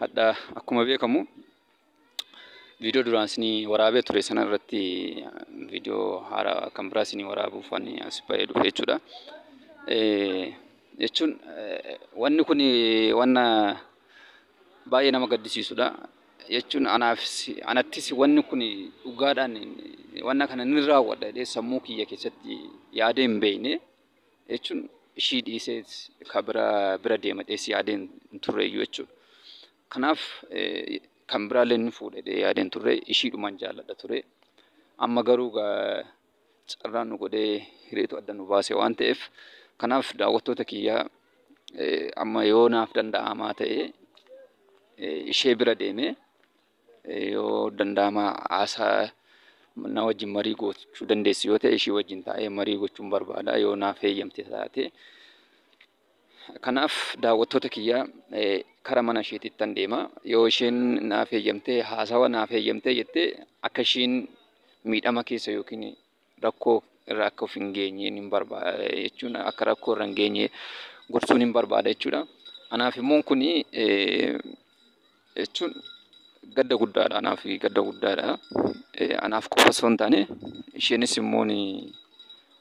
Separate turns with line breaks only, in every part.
Hadha akkuma beekamu viidiyoo duraan isinii waraabee ture sana irratti viidiyoo haaraa kan biraa isinii waraabuuf waan as ba'ee dhufe jechuudha. Jechuun wanni kun wanna baay'ee nama gaddisiisudha. Jechuun anaafis anattis wanni kun dhugaadhaan wanna kana ni raawwadha jedhee sammuu kiyya keessatti yaadee hin beekne. jechuun ishii dhiisee ka bira bira deema jedhee si yaadee hin turre iyyuu jechuudha. Kanaaf kan biraallee ni fuudha jedhee yaadee hin turre ishiidhuman jaalladha ture. Amma garuu carraan nu godhee hiriitu adda nu baase waan ta'eef kanaaf daawwattoota kiyyaa amma yoo naaf danda'amaa ta'e ishee bira deemee Yoo danda'ama haasaa na wajjin marii gochuu dandeessu yoo ta'e ishii wajjin taa'ee marii gochuun barbaada yoo naaf heeyyamte taate. Kanaaf daawwattoota kiyyaa kara mana isheetittan deema. Yoo isheen naaf heeyyamtee haasawa naaf heeyyamtee jettee akka ishiin miidhama keessa yookiin rakkoo irra akka of hin geenye nin barbaada jechuun akka rakkoo irra hin geenye gorsuu nin barbaada jechuudha. Anaaf immoo kun jechuun gadda guddaadha anaaf gadda guddaadha. Anaaf qofa osoo hin taane isheenis immoo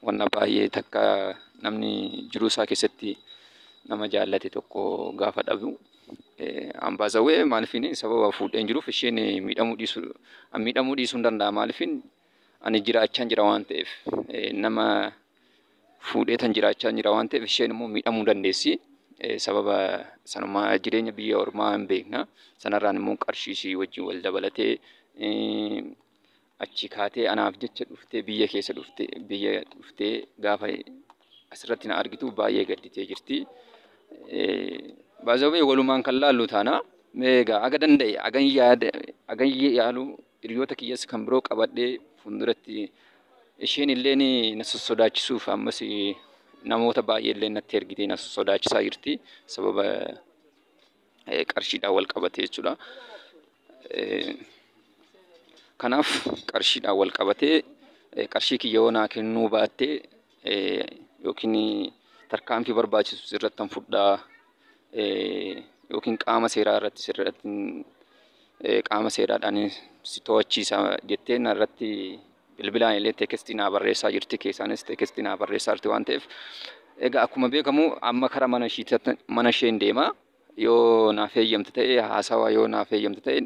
wanna baay'ee takka namni jiruu isaa keessatti nama jaallate tokko gaafa dhabu an by the way maaliifini sababa fuudheen jiruuf isheen miidhamuu dhiisuu miidhamuu dhiisuun danda'a maaliifin ani jiraachaan jira waan ta'eef nama fuudheetan jiraachaan jira waan ta'eef isheen immoo miidhamuu dandeessi. Sababa sanumaa jireenya biyya ormaa hin beekna. Sanarraan immoo qarshii ishii wajjin wal dabalatee achi kaatee anaaf jecha dhuftee biyya keessa dhuftee biyya dhuftee gaafa asirratti na argitu baay'ee gadditee jirti. Baazawwee walumaan kan laallu taana. Egaa aga danda'e agan yaada agan yaaluu Hiriyoota kiyyas kan biroo qabadhee fuulduratti isheen illee na sossodaachisuuf ammas namoota baay'ee illee natti ergitee na sossodaachisaa jirti. Sababa qarshiidhaan wal qabatee jechuudha. Kanaaf qarshiidhaan wal qabatee qarshii kiyya yoo naa kennuu baattee yookiin tarkaanfii barbaachisu sirrattan fudhaa yookiin qaama seeraa irratti sirratti qaama seeraadhaan si to'achiisa jettee narratti bilbilaan illee teekestii naa barreessaa jirti keessaanis teekestii naa barreessaa jirti waan ta'eef egaa akkuma beekamu amma kara mana isheen deema yoo naaf eeyyamte ta'e haasawaa yoo naaf eeyyamte ta'e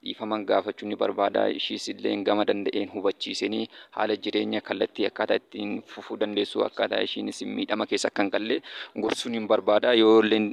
Dhiifama gaafachuu ni barbaada. Ishiis illee gama danda'een hubachiiseen haala jireenya kallattii akkaataa ittiin fufuu dandeessu akkaataa ishiinis miidhama keessa akka hin galle gorsuun hin barbaada. Yoo illeen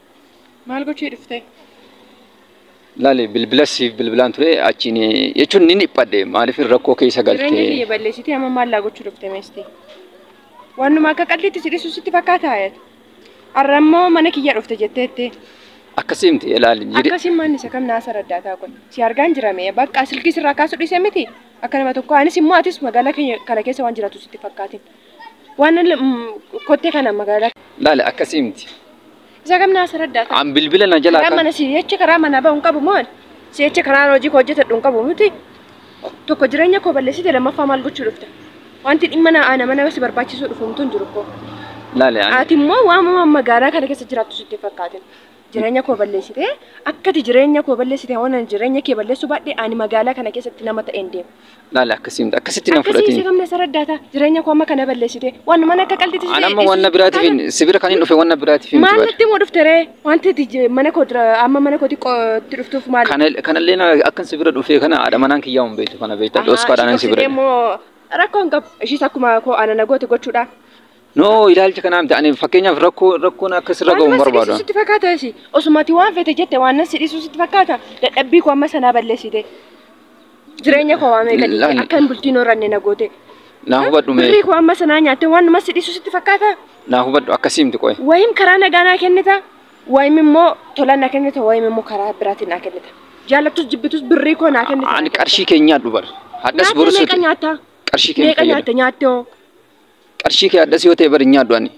Maal gochuu dhuftee? Laali bilbila siif bilbilaan ture achiin jechuun ni dhiphadhe maaliif rakkoo keessa Jireenya galtee. kiyya balleessitee amma
maal naa gochuu dhufte meestii? Waanuma akka qalliitti si dhisu sitti fakkaata ayat. Har'a immoo mana kiyya dhufte jetteetti. Akkasii miti
ilaali. jire- Akkasiin manni isa kam
naasa raddaataa kun? Si argaan jirame bakka silkii sirraa kaasuu dhiise miti? Akka nama tokko anis immoo atis magaalaa keenya kana keessa waan jiraatu sitti fakkaatin. Waan ol kottee kana magaalaa. Laale akkasii miti.
Isa kam naa
sirra daata. An bilbila na jalaa Karaa
kan mana si jecha karaa
manaa ba'u hin qabu moo ani? Si jecha karaa hojii koo hojjetadhu hin qabu miti. Tokko jireenya koo balleessite lammaffaa maal gochuu dhufta? Wanti dhimma na ana mana si barbaachisuu dhufu mtu hin jiru koo. laale ani Ati immoo waamuma
magaalaa
kana keessa jiraattu sitti hin fakkaatin. jireenya koo balleessite akkati jireenya koo balleessite waan ani jireenya kee balleessuu baadhe ani magaalaa kana keessatti nama ta'een deema. Laala akkasii miti
akkasitti nan Akkasii fudhatiin. isa gamna saraddaata
jireenya koo amma kana balleessite waan mana akka qalditti An amma wanna biraatiif hin-
si bira kan hin dhufe wanna biraatiif hin maal dubbadha. natti immoo dhufte ree
wanti ati je- mana koo dura amma mana kootti qo- itti dhuftuuf maal Kana- Kanallee na- akkan
si bira dhufee kana haadha manaan kiyyaa hin beektu kana beektaa Ahaa, dhoskaadhaan ishii si bira. qophsitee immoo rakkoon
qabu ishiis akkuma koo ana na goote gochuudha No
ilaalcha kanaa miti ani fakkeenyaaf rakkoo rakkoon akka sirra ga'u hin barbaadu. Sitti fakkaata isi
osumati waan fete jette waan nan sidhisu sitti fakkaata dadhabbii koo amma sanaa balleessite jireenya koo waamee gadi Lan- akka hin bultiin horanne na goote Naa hubadhu
mee birrii koo amma sanaa nyaatte waan
nama sidhisu sitti fakkaata naa hubadhu akkasii
miti qo'e. wayim karaa nagaa naa
kennita wayim immoo tola naa kennita wayim immoo karaa biraatiin naa kennita jaalattus jibbitus birrii koo naa kennita Ani qarshii keenyaa dubar.
Hadhas nyaatte borusuuti. meeqa nyaatta Qarshii
meeqa keenya
nyaatte nyaatte hoo
Qarshii
kee addas yoo ta'e bari hin nyaadhu ani.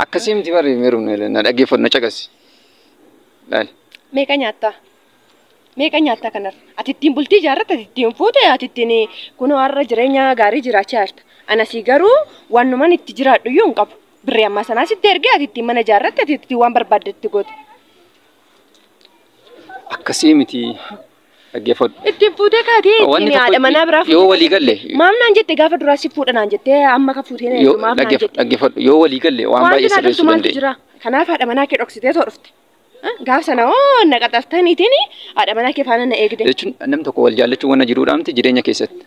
Akkasii miti bari meerum na dhaggeeffadhu na caqasi. Laali. Meeqa
nyaattaa? Meeqa nyaattaa kanar? Ati ittiin bultii ijaarratte, ati ittiin fuute, ati ittiin kunoo har'a jireenya gaarii jiraachaa jirta. Anasii garuu wanuman itti jiraadhu iyyuu hin qabu. Birrii ammaa sanaa sitti ergee ati ittiin mana ijaarratte, ati ittiin waan barbaadde itti goote.
Akkasii miti. Dhaggeeffadhu. Ittiin fuutee
kaatee Wanni ittiin tokko haadha manaa biraa yoo walii galle Maaf
naan jette gaafa
duraa si fuudha naan jettee amma ka fuutee na yoo maaf naan dhaggeef- jette. dhaggeeffadhu yoo walii galle
waan Wanti baay'ee naa galtu sirreessuu maaltu dandeenya. jira? Kanaaf haadha manaa kee
dhoksitee too dhufte. Eh, Gaaf sana hoo na qaxartaniitiin haadha manaa kee faana na eegde. Jechuun namni tokko wal
jaallachuu wanna jiruudha miti jireenya keessatti.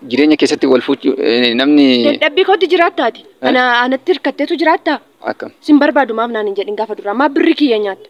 Jireenya keessatti wal fuuchuu eh, namni Dadhabbii kootti
jiraattaati. Ana anatti hirkatteetu jiraattaa? akkam. Sin barbaadu
maaf naan
hin jedhin gaafa duraa. Maaf birri kiyya nyaatta?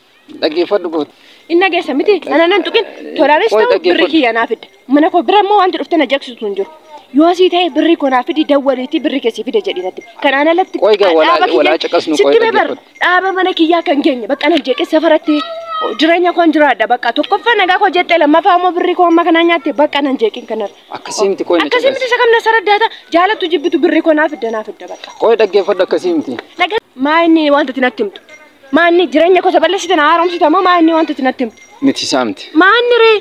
Dhaggeeffadhu goota.
Hin dhageessa miti.
Ana nan tuqin. Tolaanis Qoy ta'u dhaggeeffadhu. birrii kiyya naa fidda. Mana koo bira immoo wanti dhuftee na jeeqsitu hin jiru. Yoo asii ta'e birrii koo naa fidi dawwaliitii birrii keessii fida jedhii natti. Kanaan alatti Qoy gaa walaa- dhaaba kiyya- walaa
caqasnu qoy sitti mee bar- dhaggeeffadhu. dhaaba mana kiyyaa
kan geenye bakka nan jeeqe safaratti jireenya koon jiraadha bakka tokkoffaa nagaa koo jettee lammaffaa immoo birrii koo amma kanaa nyaatte bakka nan jeeqin kanarra. Akkasii miti qoy na Akkasii
miti caqasi. isa kam na saraddaata
jaalattu jibbitu birrii koo naa fidda naa fidda bakka. Qoy dhaggeeffadhu akkasii
miti. Dhagaa maa inni
wanta itti natti himtu. Maanni jireenya koo balleessite na haaromsita moo maanni wanta itti natti himtu? Miti saamti. Maanni
ree?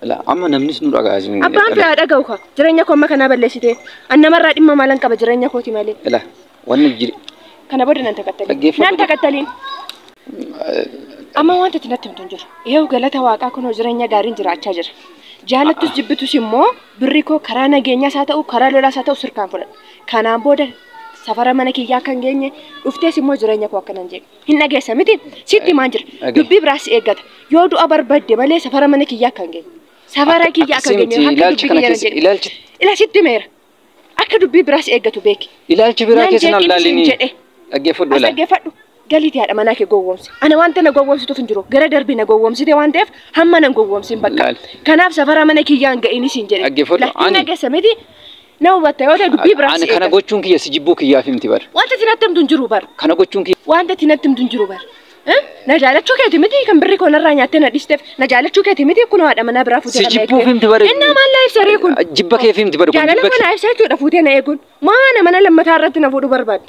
Ilaa amma namnis
nu dhaga'a isin. Abbaan fee haa dhaga'u kaa.
Jireenya koo amma kanaa balleessite. An namarraa dhimma maalan qaba jireenya kooti malee. Ilaa wanni jiri.
Kana booda nan
takattaliin. Dhaggeeffadhu. Nan takattaliin. Amma wanta itti natti himtu hin jiru. Eewu galata waaqaa kunoo jireenya gaariin jiraachaa jira. Jaalattus jibbitus immoo birri koo karaa nageenyaas haa ta'u karaa lolaas haa ta'u sirkaan fudhadha. Kanaan booda safara mana kiyyaa akka hin geenye dhuftees immoo jireenya koo akkana hin jedhu hin dhageessa miti sitti himaan jira Dhagahe. dubbii biraas si eeggata yoo du'a barbadde malee safara mana kiyyaa akka hin geenye safara Akka- kiyyaa akka hin akkasii geenye miti, akka ilaalchi dubbii kana kiyyaa hin keessa- jedhu ilaalchi- ila sitti himeera akka dubbii biraas eeggatu beeki Ilaalchi biraa Nan keessa hin
jeeqin isin allaalini. jedhe. Dhaggeeffadhu as ilaali. dhaggeeffadhu Galiiti haadha
manaa kee gowwoomsi. Ana wanta na gowwoomsituuf hin jiru. Gara darbe na gowwoomsite waan ta'eef hamma nan gowwoomsin bakka. Laal. Kanaaf safara mana kiyyaa hin ga'ini siin jedhe. Dhaggeeffadhu, Laal, ani- Dhimma keessa
miti.
Na hubatta yoo ta'e dubbii biraaf Ani si kana eeggata. gochuun kiyya si
jibbuu kiyyaaf himti bar. Wanta isin natti himtu hin jiru
bar. Kana gochuun kiyya Wanta
itti natti himtu hin jiru
bar. Eh? Na jaalachuu keeti miti kan birri koo narraa nyaattee na dhiisteef. Na jaalachuu keeti miti kun haadha manaa biraa fuutee si kan na jibbuuf eegdeef. himti bar. Innaa
maal na ibsa ree kun?
Jibba keef himti bar. kun
Jaalala jibba kee- kana ibsa jechuudha
fuutee na eeguun. Maa ana mana lammataa irratti na fuudhu barbaadde?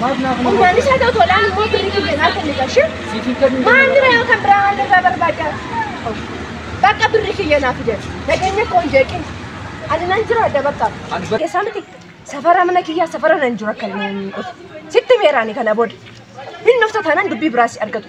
Maaf naaf hin Ummaan hubatu? isaa ta'u tolaan immoo birrii kiyya naa kenni gashi. Siif hin kennu jedhama. Maamila yoo kan biraa waan irraa barbaaddaa? Bakka birrii kiyya naa fide. Nageenya koo hin jeeqin. Ani nan jiraadha bakka. Ani bar- Keessaa miti safara mana kiyyaa safara nan jiru akka inni hin godhu. Sitti meeraani kana booda. Hin dhufta taanaan dubbii biraas si argatu.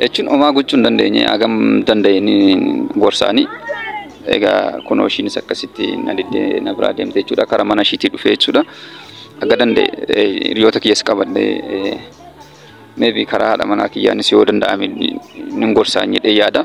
jechuun homaa gochuu hin dandeenye hagam danda'een gorsaanii egaa kunoo ishiinis akkasitti na diddee na biraa deemte jechuudha karaa mana ishiitii dhufe jechuudha akka danda'e eh, hiriyoota kiyyas qabadhe eh, maybe karaa haadha manaa kiyyaanis yoo danda'ame nin gorsaa jedhee yaada.